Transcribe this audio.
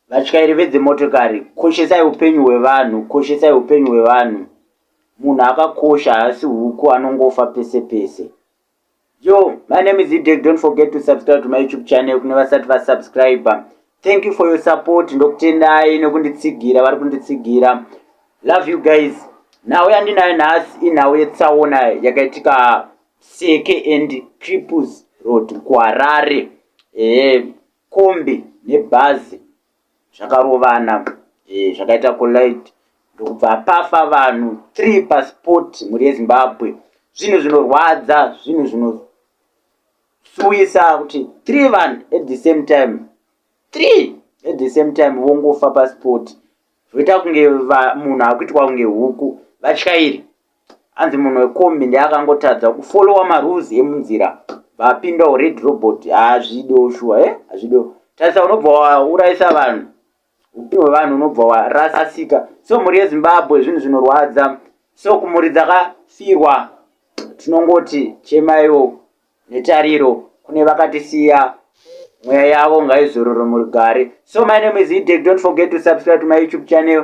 vatyairi vedzimotokari koshesai upenyu hwevanhu koshesai upenyu hwevanhu munhu akakosha haasi huku anongofa pese pese Yo, my name is Idek. Don't forget to subscribe to my YouTube channel. Kune vasati va subscribe. Thank you for your support. Ndokutendai nekunditsigira vari kunditsigira. Love you guys. Nhau yandinayo nhasi inhau yetsaona yakaitika Seke and Cripples Road kuHarare. Eh, kombi nebhazi zvakarovana eh, zvakaita collide ndokubva pafa vanhu three pasport mhuri yezimbabwe zvinhu zvinorwadza zvinhu zvinosuwisa kuti three vanhu at the same time three at the same time vongofa pasport zvoita kunge munhu akuitwa kunge huku vatyairi Hanzi munhu wekombi ndiye akangotadza kufolowa marules emunzira bvapinda ured robot hazvido shuwa e hazvido tarisa unobva waurayisa vanhu upenyu hwevanhu unobva warasasika so mhuri yezimbabwe zvinhu zvinorwadza so kumhuri dzakafirwa tinongoti chemaiwo netariro kune vakatisiya mweya yavo ngaizororo murigare so my name is idek don't forget to subscribe to my youtube channel